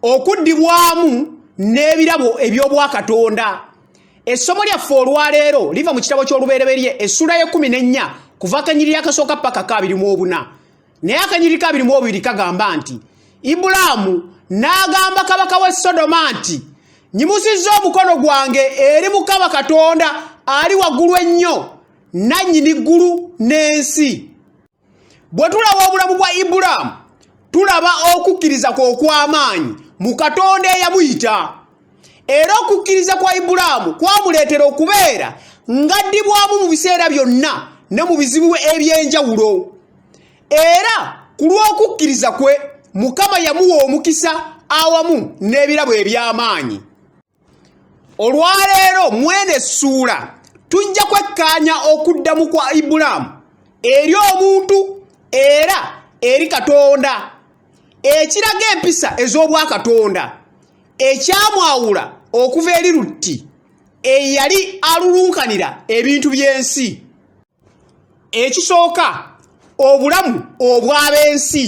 okuddibwamu n'ebirabo eby'obwakatonda essomo lyaffe olwaleero liva mu kitabo ky'olubereberye essula y'ekkumi n'ennya kuva akanyiriri akasooka paka kaabiri mu obuna naye akanyiriri kaabiri mu obubiri kagamba nti ibulaamu n'agamba kabaka w'e sodoma nti nyimusizza omukono gwange eri mukama katonda ali waggulu ennyo nannyini ggulu n'ensi bwe tulaba obulamu bwa ibulaamu tulaba okukkiriza kwe okw'amaanyi mu katonda eyamuyita era okukkiriza kwa ibulaamu kwamuleetera okubeera ng'addibwamu mu biseera byonna ne mu bizibu eby'enjawulo era ku lw'okukkiriza kwe mukama yamuwa omukisa awamu n'ebirabo eby'amaanyi olwaleero mwene essuula tujja kwekkaanya okuddamu kwa ibulaamu eri omuntu era eri katonda ekiraga empisa ez'obwakatonda ekyamwawula okuva eri lutti eyali alulunkanira ebintu by'ensi ekisooka obulamu obw'ab'ensi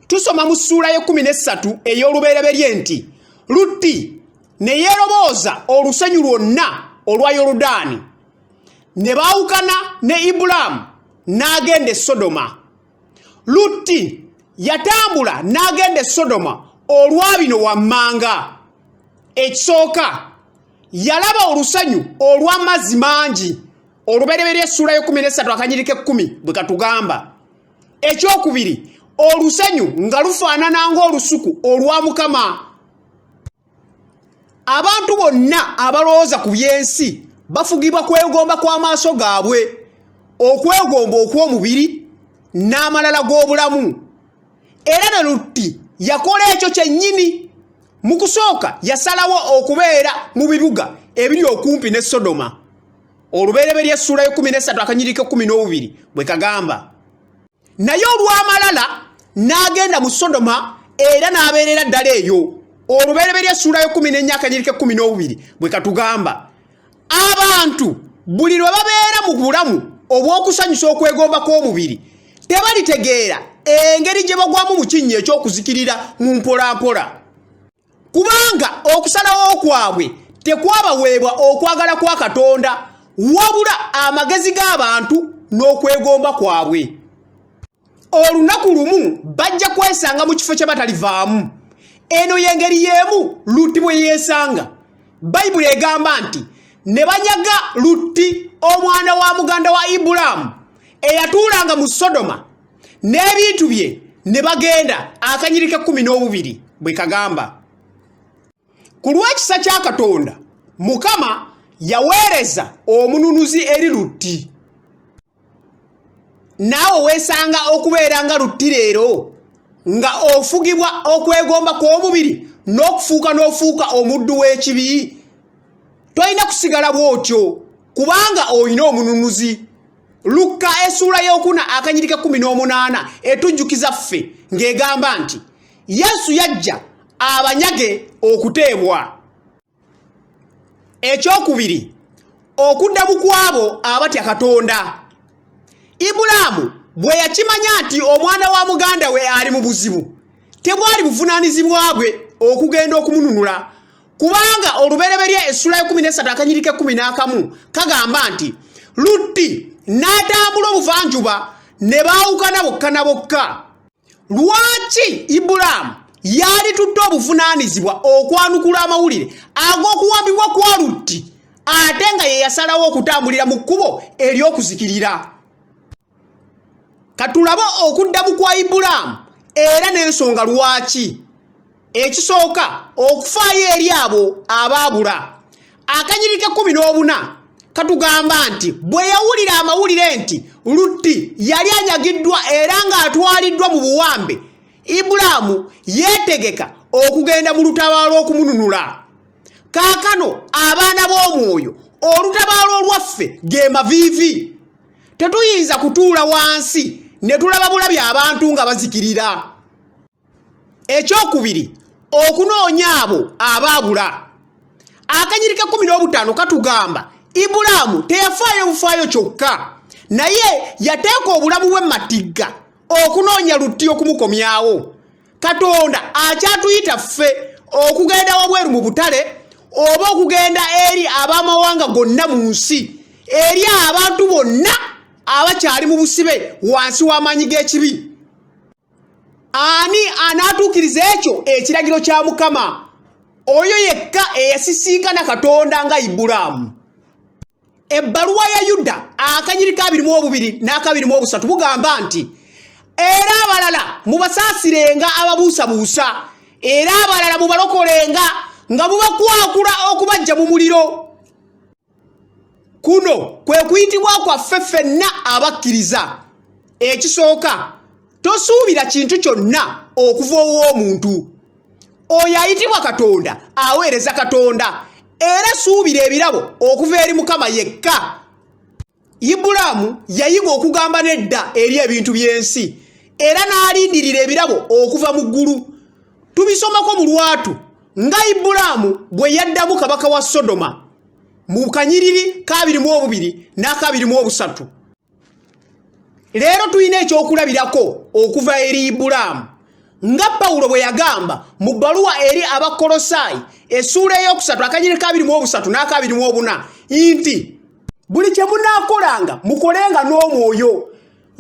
tusoma mu ssuula y'ekkumi n'essatu ey'olubereberye nti lutti ne yeerobooza olusenyu lwonna olwa yoludaani ne baawukana ne ibulaamu n'agenda e sodoma lutti yatambula n'agenda e sodoma olwa bino wammanga ekisooka yalaba olusanyu olw'amazzi mangi olubereberye essuula y'ekumi n'essatu akanyiriko ekkumi bwe katugamba ekyokubiri olusanyu nga lufaanana ng'olusuku olwa mukama abantu bonna abalowooza ku by'ensi bafugibwa kwegomba kw'amaaso gaabwe okwegomba okw'omubiri n'amalala g'obulamu era ne lutti yakola ekyo kyennyini mu kusooka yasalawo okubeera mu bibuga ebiri okumpi ne sodoma olubereberye essuula y'ekkumi n'essatu akanyiriko ekkumi n'obubiri bwe kagamba naye olw'amalala n'agenda mu sodoma era n'abeerera ddala eyo olubereberye essuula y'ekkumi n'ennya akanyiriko ekkumi n'obubiri bwe katugamba abantu buli lwe babeera mu bulamu obw'okusanyusa okwegomba kw'omubiri tebalitegeera engeri gye bagwamu mu kinnya eky'okuzikirira mu mpolampola kubanga okusalawo kwabwe tekwabaweebwa okwagala kwa katonda wabula amagezi g'abantu n'okwegomba kwabwe olunaku lumu bajja kwesanga mu kifo kye batalivaamu eno y'engeri y'emu lutti bwe yeesanga bayibuli egamba nti ne banyaga lutti omwana wa muganda wa ibulaamu eyatuulanga mu sodoma n'ebintu bye ne bagenda akanyiriko ekkumi n'obubiri bwe kagamba ku lw'ekisa kya katonda mukama yaweereza omununuzi eri lutti naawe weesanga okubeera nga lutti leero nga ofugibwa okwegomba kw'omubiri n'okufuuka n'ofuuka omuddu w'ekibi tolina kusigala bw'otyo kubanga olina omununuzi lukka esuula y'okuna akanyirika kumi n'omunaana etujjukiza ffe ng'egamba nti yesu yajja abanyage okuteebwa ekyokubiri okudda bukwabo abatya katonda ibulaamu bwe yakimanya nti omwana wa muganda we ali mu buzibu tebwali buvunaanyizibwa bwe okugenda okumununula kubanga olubereberye essula ekumi nesatu akanyiriko ekumi n'akamu kagamba nti lutti n'atambula obuvanjuba ne baawukana bokka na bokka lwaki ibulaamu yali tutte obuvunaanyizibwa okwanukula amawulire ag'okuwambibwa kwa lutti ate nga ye yasalawo okutambulira mu kkubo ery'okuzikirira katulabe okuddamu kwa ibulaamu era n'ensonga lwaki ekisooka okufaayo eri abo abaabula akanyiri kekumi n'obuna katugamba nti bwe yawulira amawulire nti lutti yali anyagiddwa era ng'atwaliddwa mu buwambe ibulaamu yeetegeka okugenda mu lutabaalo okumununula kaakano abaana b'omwoyo olutabaalo olwaffe ge maviivi tetuyinza kutuula wansi ne tulaba bulabi abantu nga bazikirira ekyokubiri okunoonya abo abaabula akanyiri kekumi n'obutaano katugamba ibulaamu teyafaayo bufaayo kyokka naye yateeka obulamu bwe matigga okunoonya lutti okumukomyawo katonda akyatuyita ffe okugenda wabweru mu butale oba okugenda eri abamawanga gonna mu nsi eri abantu bonna abakyali mu busibe wansi w'amaanyi g'ekibi ani anaatuukiriza ekyo ekiragiro kya mukama oyo yekka eyasisinkana katonda nga ibulaamu ebbaluwa ya yuda akanyiri kabiri mu obubiri n'akabiri mu obusatu bugamba nti era abalala mubasaasirenga ababuusabuusa era abalala mubalokolenga nga mubakwakula okubajja mu muliro kuno kwe kuyitibwa kwaffe ffenna abakkiriza ekisooka tosuubira kintu kyonna okuva ow'omuntu oyo ayitibwa katonda aweereza katonda era suubira ebirabo okuva eri mukama yekka ibulaamu yayiga okugamba nedda eri ebintu by'ensi era n'alindirira ebirabo okuva mu ggulu tubisomako mu lwatu nga ibulaamu bwe yaddamu kabaka wa sodoma mu kanyiriri kabiri mu obubiri n'akabiri mu obusatu leero tulina ekyokulabirako okuva eri ibulaamu nga pawulo bwe yagamba mu bbaluwa eri abakkolosaayi essuula ey'okusatu akanyiri kabiri mu obusatu n'akabiri mu obuna nti buli kye munaakolanga mukolenga n'omwoyo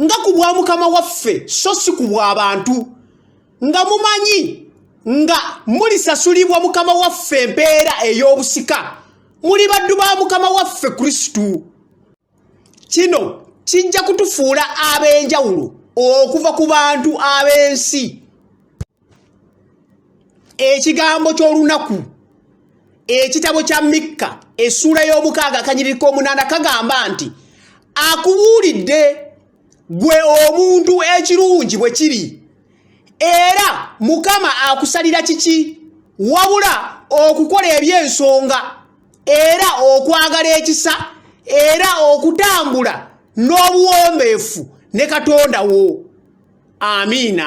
nga ku bwa mukama waffe so si ku bw'abantu nga mumanyi nga mulisasulibwa mukama waffe empeera ey'obusika muli baddu ba mukama waffe kristo kino kijja kutufuula ab'enjawulo okuva ku bantu ab'ensi ekigambo ky'olunaku ekitabo kya mikka essuula y'omukaaga akanyiriri k'omunaana kagamba nti akubuulidde gwe omuntu ekirungi bwe kiri era mukama akusalira kiki wabula okukola eby'ensonga era okwagala ekisa era okutambula n'obuwombeefu ne katonda wo amiina